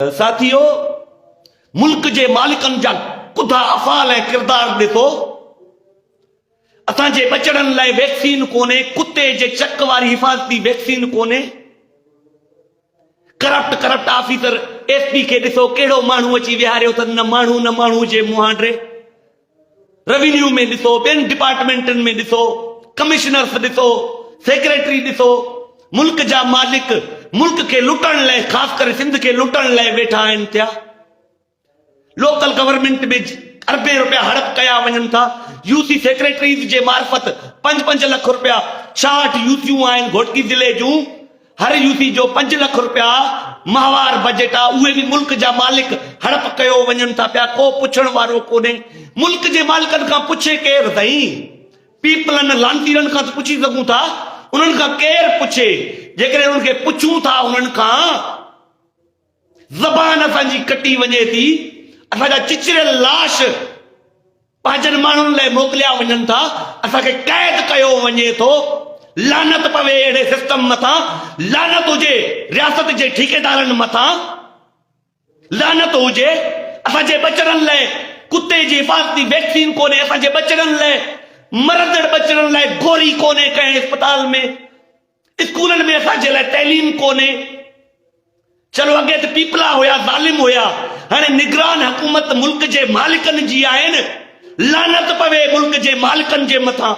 ساٿيو! ملڪ جي مالڪن جا ڪڌا افعال ۽ ڪردار ڏسو. اسان جي ٻچڙن لاء ويڪسين ڪونهي، ڪتي جي چڪ واري حفاظتي ويڪسين ڪونهي. Corrupt corrupt officer S P کي ڏسو ڪهڙو ماڻهو اچي ويهاريو اٿن، نه ماڻهو نه ماڻهو جي مهانڊري. روينيو ۾ ڏسو، ٻين ڊپارٽمينٽن ۾ ڏسو، ڪمشنرس ڏسو، سيڪريٽري ڏسو، ملڪ جا مالڪ ملڪ کي لٽڻ لئه خاص ڪري سنڌ کي لٽڻ لئه ويٺا آهن ٿيا. لوڪل گورنمينٽ ۾ اربين رپيا هڙپ ڪيا وڃن ٿا. يو سي سيڪريٽريز جي معرفت پنج پنج لک رپيا ڇاهٺ يو سيون آهن گهوٽڪي ضلعي جون. هر يو سي جو پنج لک رپيا ماهوار بجيٽ آ اهي به ملڪ جا مالڪ هڙپ ڪيو وڃن ٿا پيا ڪو پڇڻ وارو ڪونهي ملڪ جي مالڪن کان پڇي ڪير سائين پيپلن لانتيرن کان ته پڇي سگهون ٿا انهن کان ڪير پڇي جيڪڏهن انهن کي پڇون ٿا انهن کان زبان اسان جي ڪٽي وڃي ٿي، اسان جا چچريل لاش پنهنجن ماڻهن لاء موڪليا وڃن ٿا، اسان کي قيد ڪيو وڃي ٿو، لعنت پوي اهڙي سسٽم مٿان، لعنت هجي رياست جي ٺيڪيدارن مٿان، لعنت هجي اسان جي ٻچڙن لاء ڪتي جي حفاظتي ويڪسين ڪونهي، اسان جي ٻچڙن لاء مرندڙ ٻچڙن لاء گوري ڪونهي ڪنهن اسپتال ۾. اسڪولن ۾ اسان جي لاء تعليم ڪونهي چلو اڳي ته پيپلا هيا ظالم هيا هاڻي نگران حڪومت ملڪ جي مالڪن جي آهن لعنت پوي ملڪ جي مالڪن جي مٿان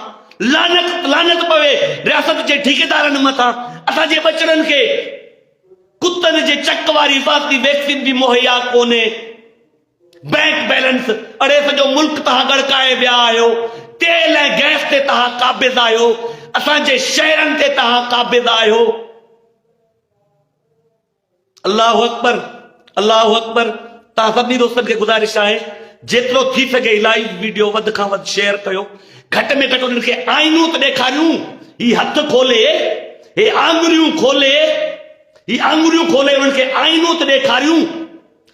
لعنت لعنت پوي رياست جي ٺيڪيدارن مٿان اسان جي ٻچڙن کي ڪتن جي چڪ واري حفاظتي ويڪسين به مهيا ڪونهي بئنڪ بيلنس اڙي سڄو ملڪ تهان ڳڙڪائي ويا آهيو، تيل ۽ گئس تي تهان قابض آهيو، اسان جي شهرن تي تهان قابض آهيو. الله اڪبر الله اڪبر توهان سڀني دوستن کي گذارش آهي جيترو ٿي سگهي لائيو ويڊيو وڌ کان وڌ شيئر ڪيو گهٽ ۾ گهٽ انهن کي آئينو ته ڏيکاريون هي هٿ کولي هي آڱريون کولي هي آڱريون کولي انهن کي آئينو ته ڏيکاريون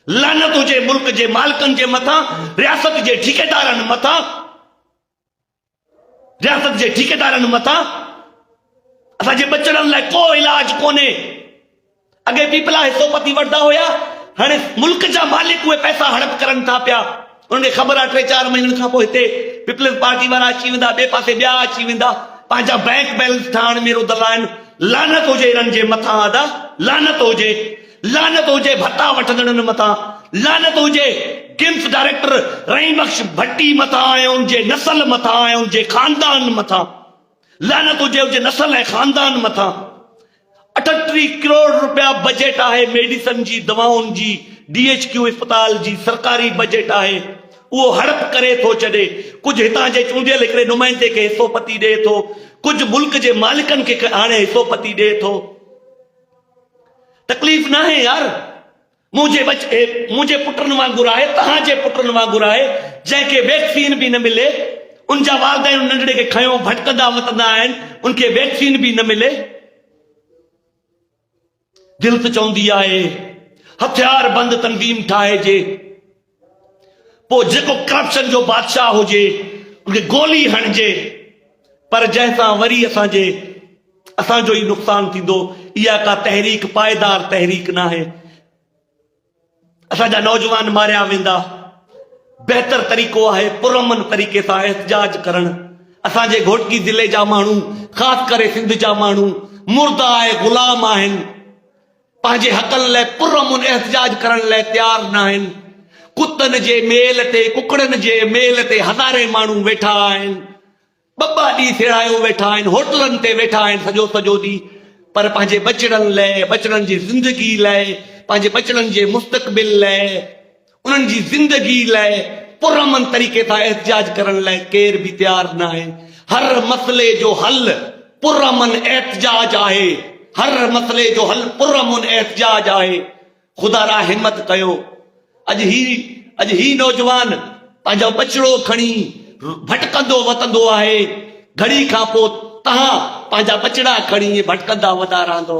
لعنت هجي ملڪ جي مالڪن جي مٿان رياست جي ٺيڪيدارن مٿان رياست جي ٺيڪيدارن مٿان اسان جي بچڙن لاء ڪو علاج ڪونهي اڳي پيپلا حصو پتي وٺندا هيا هاڻي ملڪ جا مالڪ اهي پئسا هڙپ ڪرن ٿا پيا انهن کي خبر آهي ٽي چار مهينن کان پوء هتي پيپلز پارٽي وارا اچي ويندا، ٻئي پاسي ٻيا اچي ويندا، پنهنجا بئنڪ بئلنس ٺاهڻ ۾ رڌل آهن، لعنت هجي انهن جي مٿان ادا، لعنت هجي، لعنت هجي ڀتا وٺندڙن مٿان، لعنت هجي گيمس ڊائريڪٽر رحيم بخش ڀٽي مٿان ۽ ان جي نسل مٿان ۽ ان جي خاندان مٿان، لعنت هجي ان جي نسل ۽ خاندان مٿان، اٺٽيهه ڪروڙ رپيا بجيٽ آهي ميڊيسن جي دوائن جي ڊي ايڇ ڪيو اسپتال جي سرڪاري بجيٽ آهي اهو هڙپ ڪري ٿو ڇڏي ڪجهه هتان جي چونڊيل هڪڙي نمائندي کي حصو پتي ڏئي ٿو ڪجهه ملڪ جي مالڪن کي آڻي حصو پتي ڏئي ٿو تڪليف ناهي يار مون جي وچ اي مون جي پٽن وانگر آهي تهان جي پٽن وانگر آهي جنهن کي ويڪسين به نه ملي ان جا والدين ان ننڍڙي کي کنيو ڀٽڪندا وتندا آهن ان کي ويڪسين به نه ملي دل ته چوندي آهي هٿيار بند تنظيم ٺاهجي پوء جيڪو ڪرپشن جو بادشاهه هجي ان کي گولي هڻجي پر جنهن سان وري اسان جي اسان جو ئي نقصان ٿيندو اها ڪا تحريڪ پائيدار تحريڪ ناهي اسان جا نوجوان ماريا ويندا بهتر طريقو آهي پرامن طريقي سان احتجاج ڪرڻ اسان جي گهوٽڪي ضلعي جا ماڻهو خاص ڪري سنڌ جا ماڻهو مردا آهي غلام آهن پنهنجي حقن لاء پرامن احتجاج ڪرڻ لاء تيار ناهن، ڪتن جي ميل تي ڪڪڙن جي ميل تي هزارين ماڻهو ويٺا آهن، ٻه ٻه ڏينهن ٿيڙايو ويٺا آهن، هوٽلن تي ويٺا آهن سڄو سڄو ڏينهن پر پنهنجي ٻچڙن لاء، ٻچڙن جي زندگي لاء، پنهنجي ٻچڙن جي مستقبل لاء، انهن جي زندگي لاء پرامن طريقي سان احتجاج ڪرڻ لاء ڪير به تيار ناهي، هر مسئلي جو حل پرامن احتجاج آهي، هر مسئلي جو حل پرامن احتجاج آهي، خدا را همت ڪيو اڄ هي اڄ هي نوجوان پنهنجو ٻچڙو کڻي ڀٽڪندو وتندو آهي، گهڙي کان پوء توهان پنهنجا ٻچڙا کڻي ائين ڀٽڪندا ودا رهندو.